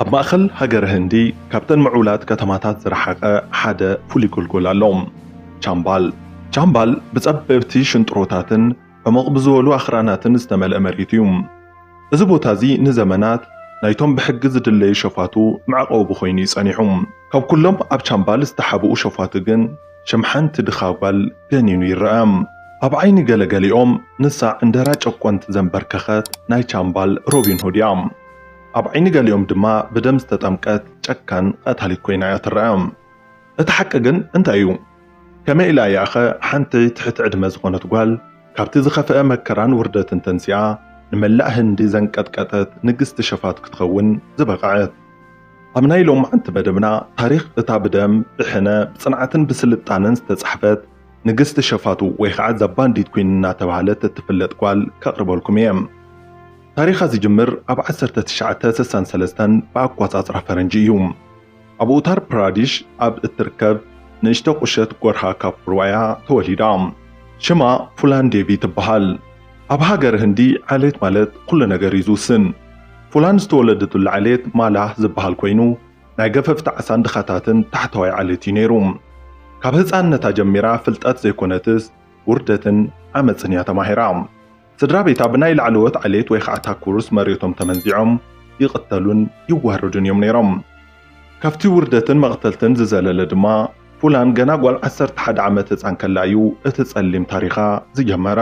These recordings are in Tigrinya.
ኣብ ማእኸል ሃገረ ህንዲ ካብተን ምዕቡላት ከተማታት ዝረሓቐ ሓደ ፍሉይ ጎልጎል ኣሎ፣ ቻምባል። ቻምባል ብፀበብቲ ሽንጥሮታትን ዕሙቕ ብዝበሉ ኣኽራናትን ዝተመልአ መሬት እዩ። እዚ ቦታ እዚ ንዘመናት ናይቶም ብሕጊ ዝድለዩ ሸፋቱ መዕቖቢ ኾይኑ እዩ ፀኒሑ። ካብ ኩሎም ኣብ ቻምባል ዝተሓብኡ ሸፋቱ ግን፣ ሽም ሓንቲ ድኻ ጓል ገኒኑ ይረኣ። ኣብ ዓይኒ ገለ ገሊኦም ንሳ ዕንደራ ጨቆንቲ ዘምበርከኸት ናይ ቻምባል ሮቢን ሁድ እያ። ኣብ ዓይኒ ገሊኦም ድማ ብደም ዝተጠምቀት ጨካን ቐታሊት ኮይና እያ ትረኣ። እቲ ሓቂ ግን እንታይ እዩ? ከመይ ኢላ እያ'ኸ ሓንቲ ትሕቲ ዕድመ ዝኾነት ጓል ካብቲ ዝኸፍኣ መከራን ውርደትን ተንሲኣ ንመላእ ህንዲ ዘንቀጥቀጠት ንግስቲ ሸፋቱ ክትኸውን ዝበቐዐት? ኣብ ናይ ሎምዓንቲ መደብና ታሪኽ እታ ብደም፣ ብሕነ፣ ብጽንዓትን ብስልጣነን ዝተጻሕፈት ንግስቲ ሸፋቱ ወይ ኸዓ ዛባንዲት ኩን እናተብሃለት እትፍለጥ ጓል ከቕርበልኩም እየ። ታሪኻ ዝጅምር ኣብ ዓሰርተ ትሽዓተ ስሳን ሰለስተን ብኣቆጻጽራ ፈረንጂ እዩ። ኣብ ኡታር ፕራዲሽ ኣብ እትርከብ ንእሽቶ ቁሸት ጎርሃ ካፑርዋያ ተወሊዳ። ሽማ ፉላን ዴቪ ትብሃል። ኣብ ሃገረ ህንዲ ዓሌት ማለት ኩሉ ነገር እዩ ዝውስን። ፉላን ዝተወለደትሉ ዓሌት ማላህ ዝበሃል ኮይኑ ናይ ገፈፍቲ ዓሳን ድኻታትን ታሕተዋይ ዓሌት እዩ ነይሩ። ካብ ህጻንነታ ጀሚራ ፍልጠት ዘይኮነትስ ውርደትን ዓመጽን እያ ተማሂራ። ስድራቤታ ብናይ ላዕለዎት ዓሌት ወይ ኸኣ ታኩርስ መሬቶም ተመንዚዖም ይቕተሉን ይዋረዱን እዮም ነይሮም። ካብቲ ውርደትን መቕተልትን ዝዘለለ ድማ፣ ፉላን ገና ጓል ዓሰርተ ሓደ ዓመት ህጻን ከላ እዩ እቲ ጸሊም ታሪኻ ዝጀመረ።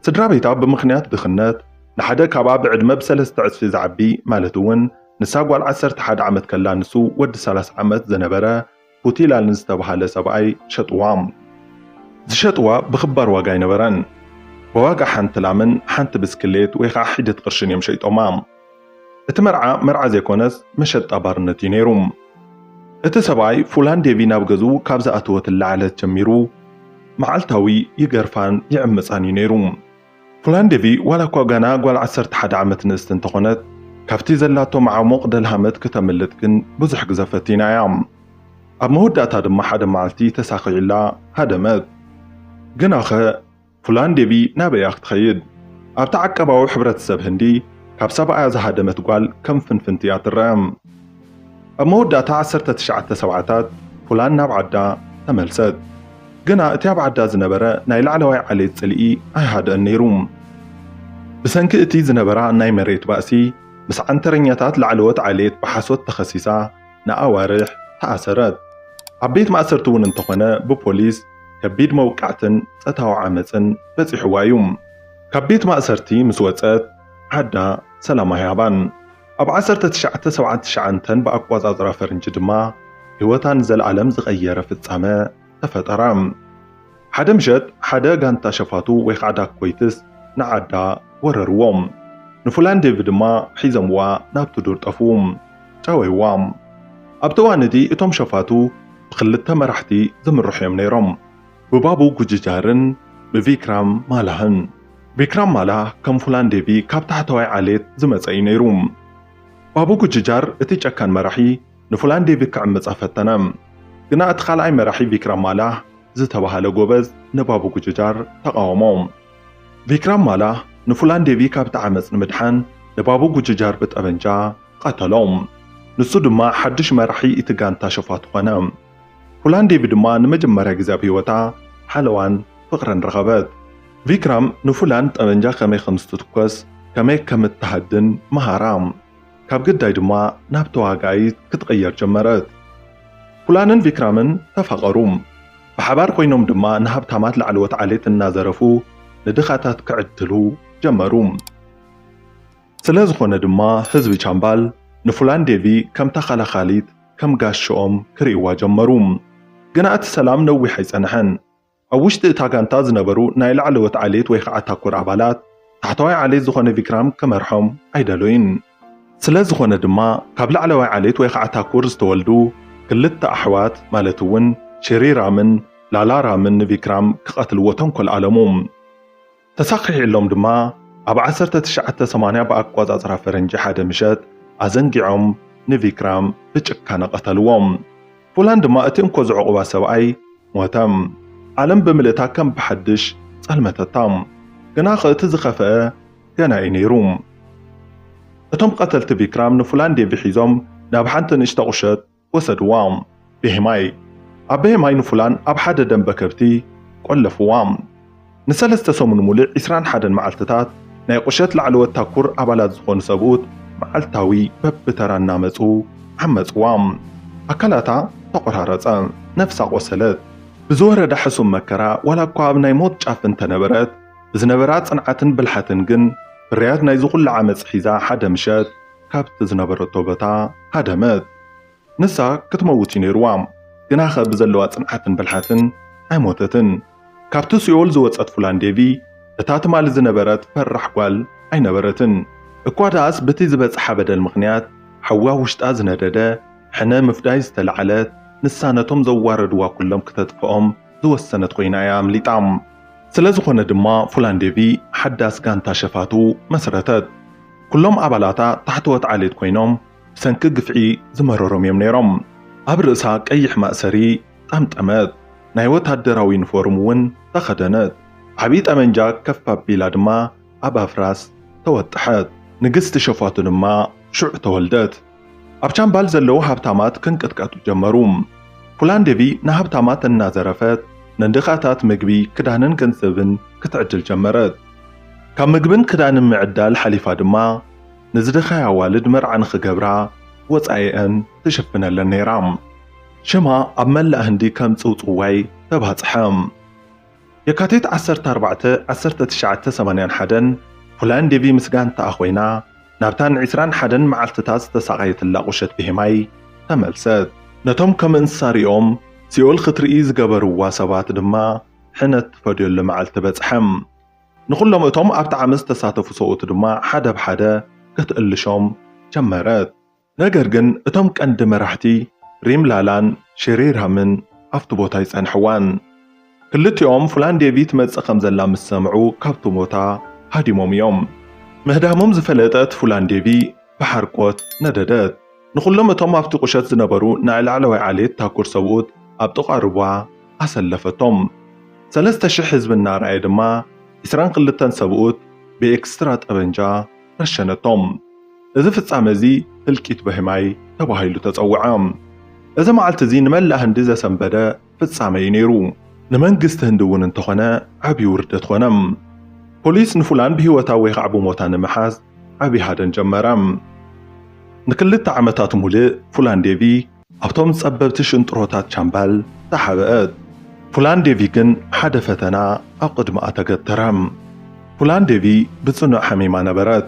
ስድራቤታ ብምኽንያት ድኽነት፣ ንሓደ ካብኣ ብዕድመ ብሰለስተ ዕጽፊ ዝዓቢ፣ ማለት'ውን ንሳ ጓል ዓሰርተ ሓደ ዓመት ከላ ንሱ ወዲ ሰላሳ ዓመት ዝነበረ፣ ፑቲላ ንዝተብሃለ ሰብኣይ ሸጥዋ። ዝሸጥዋ ብኽባር ዋጋ ኣይነበረን። ብዋጋ ሓንቲ ላምን ሓንቲ ብስክሌት ወይ ኸዓ ሒደት ቕርሽን እዮም ሸይጦማ። እቲ መርዓ መርዓ ዘይኮነስ መሸጣ ባርነት እዩ ነይሩ። እቲ ሰብኣይ ፉላን ዴቪ ናብ ገዝኡ ካብ ዝኣተወትላ ዕለት ጀሚሩ መዓልታዊ ይገርፋን ይዕምፃን እዩ ነይሩ። ፖላንደቪ ዋላኳ ገና ጓል ዓሰርተ ሓደ ዓመት ንእስቲ እንተኾነት፣ ካብቲ ዘላቶ መዓሙቕ ደልሃመት ክተምልጥ ግን ብዙሕ ግዘ ፈቲና እያ። ኣብ መወዳእታ ድማ ሓደ መዓልቲ ተሳኺዕላ ሃደመት። ግናኸ ፖላንደቪ ናበይ እያ ክትኸይድ? ኣብቲ ዓቀባዊ ሕብረተሰብ ህንዲ ካብ ሰብኣያ ዝሃደመት ጓል ከም ፍንፍንቲ እያ ትረኣ። ኣብ መወዳእታ ዓሰርተ ትሽዓተ ሰብዓታት ፑላን ናብ ዓዳ ተመልሰት። ግና እቲ ኣብ ዓዳ ዝነበረ ናይ ላዕለዋይ ዓሌት ጽልኢ ኣይሃድእን ነይሩ። ብሰንኪ እቲ ዝነበራ ናይ መሬት ባእሲ ምስ ዓንተረኛታት ላዕለዎት ዓሌት ብሓሶት ተኸሲሳ ንኣዋርሕ ተኣሰረት። ኣብ ቤት ማእሰርቲ እውን እንተኾነ ብፖሊስ ከቢድ መውቃዕትን ጸታዊ ዓመጽን በጺሕዋ እዩ። ካብ ቤት ማእሰርቲ ምስ ወጸት ዓዳ ሰላም ኣይሃባን። ኣብ ዓሰርተ ትሽዓተ ሰብዓን ትሽዓንተን ብኣቆጻጽራ ፈርንጂ ድማ ህይወታ ንዘልኣለም ዝቐየረ ፍጻመ ተፈጠረ። ሓደ ምሸት ሓደ ጋንታ ሸፋቱ ወይ ኻዓ ዳኮይትስ ንዓዳ ወረርዎም። ንፉላን ዴቪ ድማ ሒዘምዋ ናብቲ ዱር ጠፍኡ። ጨወይዋ። ኣብቲ እዋን እቲ እቶም ሸፋቱ ብኽልተ መራሕቲ ዝምርሑ እዮም ነይሮም። ብባቡ ጉጅጃርን ብቪክራም ማላህን። ቪክራም ማላህ ከም ፉላን ዴቪ ካብ ታሕተዋይ ዓሌት ዝመጸ እዩ ነይሩ። ባቡ ጉጅጃር እቲ ጨካን መራሒ ንፉላን ዴቪ ክዕምጻ ፈተነ። ግና እቲ ካልኣይ መራሒ ቪክራም ማላህ ዝተባህለ ጎበዝ ንባቡ ጉጅጃር ተቓወሞ። ቪክራም ማላህ ንፉላን ዴቪ ካብቲ ዓመጽ ንምድሓን ንባቡ ጉጅጃር ብጠበንጃ ቐተሎ። ንሱ ድማ ሓድሽ መራሒ እቲ ጋንታ ሸፋቱ ኾነ። ፉላንዴቪ ድማ ንመጀመርያ ግዜ ኣብ ህይወታ ሓለዋን ፍቕርን ረኸበት። ቪክራም ንፉላን ጠበንጃ ከመይ ከም ዝትትኮስ ከመይ ከም እትሃድን መሃራ። ካብ ግዳይ ድማ ናብ ተዋጋኢት ክትቕየር ጀመረት። ፉላንን ቪክራምን ተፋቐሩ። ብሓባር ኮይኖም ድማ ንሃብታማት ላዕለዎት ዓሌት እናዘረፉ ንድኻታት ክዕድሉ ጀመሩ። ስለዝኾነ ድማ ህዝቢ ቻምባል ንፉላንዴቪ ከም ተኸላኻሊት፣ ከም ጋሻኦም ክርእይዋ ጀመሩ። ግና እቲ ሰላም ነዊሕ ኣይጸንሐን። ኣብ ውሽጢ እታ ጋንታ ዝነበሩ ናይ ላዕለዎት ዓሌት ወይ ኸኣ ታኩር ኣባላት፣ ታሕተዋይ ዓሌት ዝኾነ ቪክራም ክመርሖም ኣይደለዩን። ስለ ዝኾነ ድማ ካብ ላዕለዋይ ዓሌት ወይ ኸኣ ታኩር ዝተወልዱ ክልተ ኣሕዋት ማለት እውን ሽሪራምን ላላራምን ንቪክራም ክቐትልዎ ተንኮል ኣለሙ። ተሳኺሒሎም ድማ ኣብ ዓሰርተ ትሽዓተ ሰማንያ ብኣቆጻጽራ ፈረንጂ ሓደ ምሸት ኣዘንጊዖም ንቪክራም ብጭካነ ቀተልዎ። ፉላን ድማ እቲ እንኮ ዝዕቑባ ሰብኣይ ሞተ። ዓለም ብምልእታ ከም ብሓድሽ ጸልመተታ። ግናኸ እቲ ዝኸፍኣ ገና እዩ ነይሩ። እቶም ቀተልቲ ቪክራም ንፉላን ዴቪ ሒዞም ናብ ሓንቲ ንእሽቶ ቁሸት ወሰድዋ። ቤሄማይ ኣብ ቤሄማይ ንፉላን ኣብ ሓደ ደምበ ከብቲ ቆለፍዋ። ንሰለስተ ሰሙን ሙሉእ ዒስራን ሓደን መዓልትታት ናይ ቁሸት ላዕለዎት ታኩር ኣባላት ዝኾኑ ሰብኡት መዓልታዊ በብተራ እናመጹ ዓመጽዋ። ኣካላታ ተቆራረጸ። ነፍሳ ቆሰለት። ብዝወረዳ ሕሱም መከራ ዋላኳ ኣብ ናይ ሞት ጫፍ እንተነበረት ብዝነበራ ጽንዓትን ብልሓትን ግን ፍርያት ናይዚ ኩሉ ዓመጽ ሒዛ ሓደ ምሸት ካብቲ ዝነበረቶ ቦታ ሃደመት። ንሳ ክትመውት እዩ ነይሩዋ፣ ግናኸ ብዘለዋ ጽንዓትን ብልሓትን ኣይሞተትን። ካብቲ ሲኦል ዝወጸት ፉላን ዴቪ እታ ትማሊ ዝነበረት ፈራሕ ጓል ኣይነበረትን። እኳ ደኣስ ብቲ ዝበጽሓ በደል ምኽንያት ሓዊ ኣብ ውሽጣ ዝነደደ ሕነ ምፍዳይ ዝተላዕለት ንሳ ነቶም ዘዋረድዋ ኩሎም ክተጥፍኦም ዝወሰነት ኮይና እያ ኣምሊጣ። ስለዝኾነ ድማ ፉላንዴቪ ሓዳስ ጋንታ ሸፋቱ መስረተት። ኩሎም ኣባላታ ታሕተዎት ዓሌት ኮይኖም ብሰንኪ ግፍዒ ዝመረሮም እዮም ነይሮም። ኣብ ርእሳ ቀይሕ ማእሰሪ ጠምጠመት። ናይ ወታደራዊ ዩኒፎርም እውን ተኸደነት። ዓብዪ ጠበንጃ ከፍ ኣቢላ ድማ ኣብ ኣፍራስ ተወጠሐት። ንግስቲ ሸፋቱ ድማ ሽዑ ተወልደት። ኣብ ቻምባል ዘለዉ ሃብታማት ክንቅጥቀጡ ጀመሩ። ፑላንዴቪ ንሃብታማት እናዘረፈት ንድኻታት ምግቢ፣ ክዳንን ገንዘብን ክትዕድል ጀመረት። ካብ ምግብን ክዳንን ምዕዳል ሓሊፋ ድማ ንዝደኸያ ኣዋልድ መርዓ ንኽገብራ ወጻኢኣን ትሽፍነለን ነይራ። ሽማ ኣብ መላእ ህንዲ ከም ጽውጽዋይ ተባጽሐ። የካቲት ዓሰርተ ኣርባዕተ ዓሰርተ ትሽዓተ ሰማንያን ሓደን፣ ፉላን ዴቪ ምስ ጋንታኣ ኮይና ናብታ ን ዕስራን ሓደን መዓልትታት ዝተሳቐየትላ ቁሸት ብሄማይ ተመልሰት። ነቶም ከም እንስሳ ሪኦም ሲኦል ክትርኢ ዝገበርዋ ሰባት ድማ ሕነ ትፈድዮሉ መዓልቲ በጽሐም። ንኹሎም እቶም ኣብቲ ዓመጽ ዝተሳተፉ ሰብኡት ድማ ሓደ ብ ሓደ ክትእልሾም ጀመረት። ነገር ግን እቶም ቀንዲ መራሕቲ ሪምላላን ሺሪርሃምን ኣብቲ ቦታ ኣይጸንሕዋን። ክልቲኦም ፉላንዴቪ ትመጽእ ከም ዘላ ምስ ሰምዑ ካብቲ ቦታ ሃዲሞም እዮም። ምህዳሞም ዝፈለጠት ፉላንዴቪ ብሓርቆት ነደደት። ንኹሎም እቶም ኣብቲ ቁሸት ዝነበሩ ናይ ላዕለዋይ ዓሌት ታኩር ሰብኡት ኣብ ጥቓ ሩባ ኣሰለፈቶም። ሰለስተ ሽሕ ህዝቢ እናረኣየ ድማ ዕስራን ክልተን ሰብኡት ብኤክስትራ ጠበንጃ ረሸነቶም። እዚ ፍጻመ እዚ ህልቂት በህማይ ተባሂሉ ተጸውዐ። እዚ መዓልቲ እዚ ንመላእ ህንዲ ዘሰንበደ ፍጻመ እዩ ነይሩ። ንመንግስቲ ህንዲ እውን እንተኾነ ዓቢ ውርደት ኮነ። ፖሊስ ንፉላን ብህይወታ ወይ ኻዕ ብሞታ ንምሓዝ ዓቢ ሃደን ጀመረ። ንክልተ ዓመታት ሙልእ ፉላን ዴቪ ኣብቶም ጸበብቲ ሽንጥሮታት ቻምባል ተሓብአት። ፑላንዴቪ ግን ሓደ ፈተና ኣብ ቕድምኣ ተገተረ። ፑላንዴቪ ብጽኑዕ ሓሚማ ነበረት።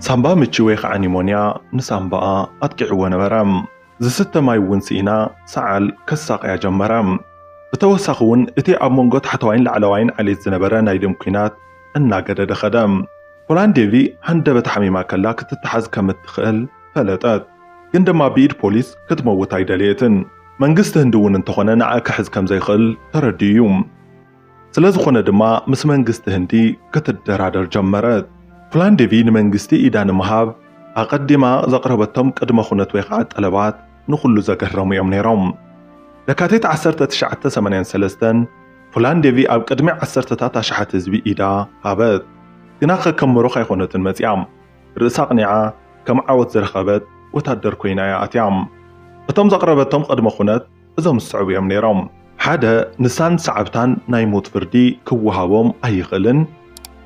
ሳምባ ምቺ ወይ ኸዓ ኒሞንያ ንሳምባኣ ኣጥቂዕዎ ነበረ። ዝስተ ማይ እውን ስኢና ሰዓል ከሳቕያ ጀመረ። ብተወሳኺ እውን እቲ ኣብ መንጎ ታሕተዋይን ላዕለዋይን ዓሌት ዝነበረ ናይ ደም ኲናት እናገደደ ኸደ። ፑላንዴቪ ሃንደበት ሓሚማ ከላ ክትተሓዝ ከም እትኽእል ፈለጠት። ግን ድማ ብኢድ ፖሊስ ክትመውት ኣይደለየትን። መንግስቲ ህንዲ እውን እንተኾነ ንዓ ክሕዝ ከም ዘይኽእል ተረዲኡ እዩ። ስለ ዝኾነ ድማ ምስ መንግስቲ ህንዲ ክትደራደር ጀመረት። ፕላን ዴቪ ንመንግስቲ ኢዳ ንምሃብ ኣቐዲማ ዘቕረበቶም ቅድመ ኩነት ወይ ኸዓ ጠለባት ንኹሉ ዘገረሙ እዮም ነይሮም። ለካቲት ዓሰርተ ትሽዓተ ሰማንያን ሰለስተን ፕላን ዴቪ ኣብ ቅድሚ ዓሰርተታት ኣሽሓት ህዝቢ ኢዳ ሃበት። ግና ከከም ምሩኽ ኣይኾነትን መፂኣ። ርእሳ ኣቕኒዓ ከም ዓወት ዝረኸበት ወታደር ኮይና እያ ኣትያ። እቶም ዘቕረበቶም ቕድመ ኩነት እዞም ዝስዕቡ እዮም ነይሮም። ሓደ ንሳን ሰዓብታን ናይ ሞት ፍርዲ ክወሃቦም ኣይኽእልን።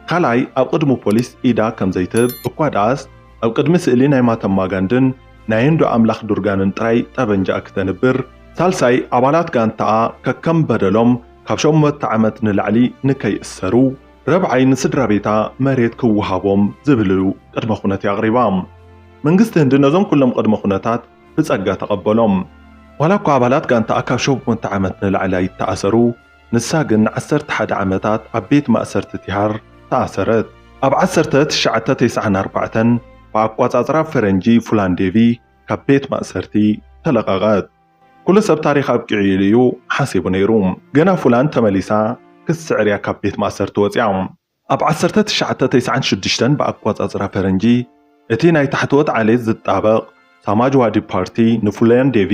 ካልኣይ ኣብ ቕድሚ ፖሊስ ኢዳ ከም ዘይትህብ እኳ ደኣስ ኣብ ቅድሚ ስእሊ ናይ ማተማ ጋንድን ናይ ህንዱ ኣምላኽ ዱርጋንን ጥራይ ጠበንጃኣ ክተንብር። ሳልሳይ ኣባላት ጋንታኣ ከከም በደሎም ካብ ሸሞተ ዓመት ንላዕሊ ንከይእሰሩ። ረብዓይ ንስድራቤታ መሬት ክወሃቦም ዝብል እዩ ቅድመ ኩነት ኣቕሪባ። መንግስቲ ህንዲ ነዞም ኩሎም ቅድመ ኩነታት ብጸጋ ተቐበሎም። ዋላ እኳ ኣባላት ጋንታኣ ካብ ሸሞንተ ዓመት ንላዕሊ ኣይተኣሰሩ፣ ንሳ ግን ንዓሰርተ ሓደ ዓመታት ኣብ ቤት ማእሰርቲ ቲሃር ተኣሰረት። ኣብ ዓሰርተ ትሽዓተ ተስዓን ኣርባዕተን ብኣቋጻጽራ ፈረንጂ ፉላንዴቪ ካብ ቤት ማእሰርቲ ተለቐቐት። ኩሉ ሰብ ታሪኽ ኣብቂዑ ኢሉ እዩ ሓሲቡ ነይሩ። ገና ፉላን ተመሊሳ ክትስዕር እያ ካብ ቤት ማእሰርቲ ወጺኣ። ኣብ ዓሰርተ ትሽዓተ ተስዓን ሽዱሽተን ብኣቆጻጽራ ፈረንጂ፣ እቲ ናይ ታሕተዎት ዓሌት ዝጣበቕ ሳማጅዋዲ ፓርቲ ንፉላን ዴቪ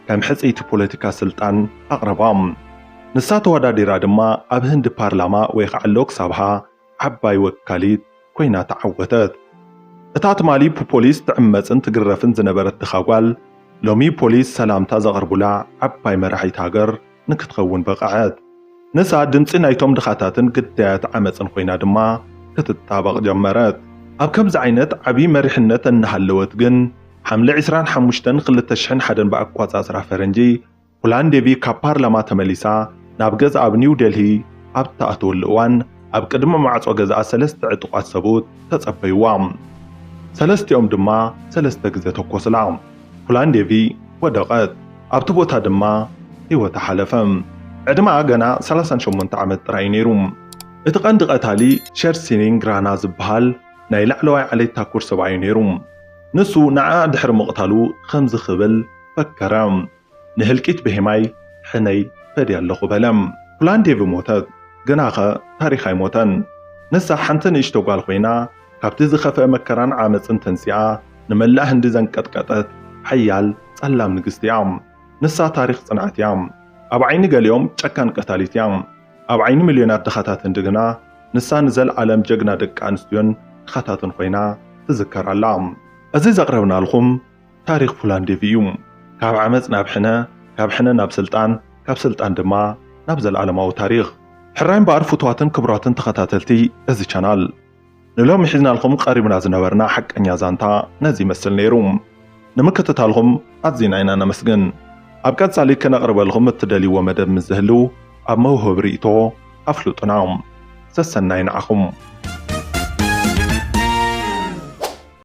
ከም ሕጽይቲ ፖለቲካ ስልጣን ኣቕረባ። ንሳ ተወዳዲራ ድማ ኣብ ህንዲ ፓርላማ ወይኻዓ ሎክ ሳብሃ፣ ዓባይ ወካሊት ኮይና ተዓወተት። እታ ትማሊ ብፖሊስ ትዕመጽን ትግረፍን ዝነበረት ድኻ ጓል፣ ሎሚ ፖሊስ ሰላምታ ዘቐርቡላ ዓባይ መራሒት ሃገር ንክትኸውን በቐዐት። ንሳ ድምጺ ናይቶም ድኻታትን ግዳያት ዓመጽን ኮይና ድማ ክትጣበቕ ጀመረት። ኣብ ከምዚ ዓይነት ዓቢ መሪሕነት እናሃለወት ግን፣ ሓምለ ዕስራን ሓሙሽተን ክልተ ሽሕን ሓደን ብኣቋጻጽራ ፈረንጂ ፑላንዴቪ ካብ ፓርላማ ተመሊሳ ናብ ገዝኣ ኣብ ኒው ደልሂ ኣብ እትኣትወሉ እዋን ኣብ ቅድሚ ማዕጾ ገዝኣ ሰለስተ ዕጡቓት ሰብኡት ተጸበዩዋ። ሰለስቲኦም ድማ ሰለስተ ግዜ ተኮሱላ። ፑላንዴቪ ወደቐት፣ ኣብቲ ቦታ ድማ ህይወታ ሓለፈ። ዕድመኣ ገና ሰላሳን ሸሞንተ ዓመት ጥራይ እዩ ነይሩ። እቲ ቀንዲ ቀታሊ ሸር ሲንግ ራና ዝበሃል ናይ ላዕለዋይ ዓሌት ታኩር ሰብኣይ እዩ ነይሩ። ንሱ ንዓኣ ድሕሪ ምቕታሉ ከምዚ ክብል ፈከረ። ንህልቂት ብሄማይ ሕነይ ፈድየ ኣለኹ በለ። ኩላን ዴቪ ሞተት፣ ግናኸ ታሪኽ ኣይሞተን። ንሳ ሓንቲ ንእሽቶ ጓል ኮይና፣ ካብቲ ዝኸፍኤ መከራን ዓመጽን ተንሲኣ ንመላእ ህንዲ ዘንቀጥቀጠት ሓያል ጸላም ንግስቲ እያ። ንሳ ታሪኽ ጽንዓት እያ። ኣብ ዓይኒ ገሊኦም ጨካን ቀታሊት እያ። ኣብ ዓይኒ ሚልዮናት ድኻታት ህንዲ ግና ንሳ ንዘልኣለም ጀግና ደቂ ኣንስትዮን ድኻታትን ኮይና ትዝከር ኣላ። እዚ ዘቕረብናልኹም ታሪኽ ፉላን ዴቭ እዩ። ካብ ዓመጽ ናብ ሕነ፣ ካብ ሕነ ናብ ስልጣን፣ ካብ ስልጣን ድማ ናብ ዘልኣለማዊ ታሪኽ። ሕራይ እምበኣር ፍቱዋትን ክቡራትን ተኸታተልቲ እዚ ቻናል፣ ንሎሚ ሒዝናልኩም ቀሪብና ዝነበርና ሓቀኛ ዛንታ ነዚ ይመስል ነይሩ። ንምክትታልኩም ኣዚና ኢና ነመስግን። ኣብ ቀጻሊ ክነቕርበልኩም እትደልይዎ መደብ ምስ ዝህሉ ኣብ መውህቢ ሪኢቶ ኣፍልጡና። ሰሰናዩ ንዓኹም።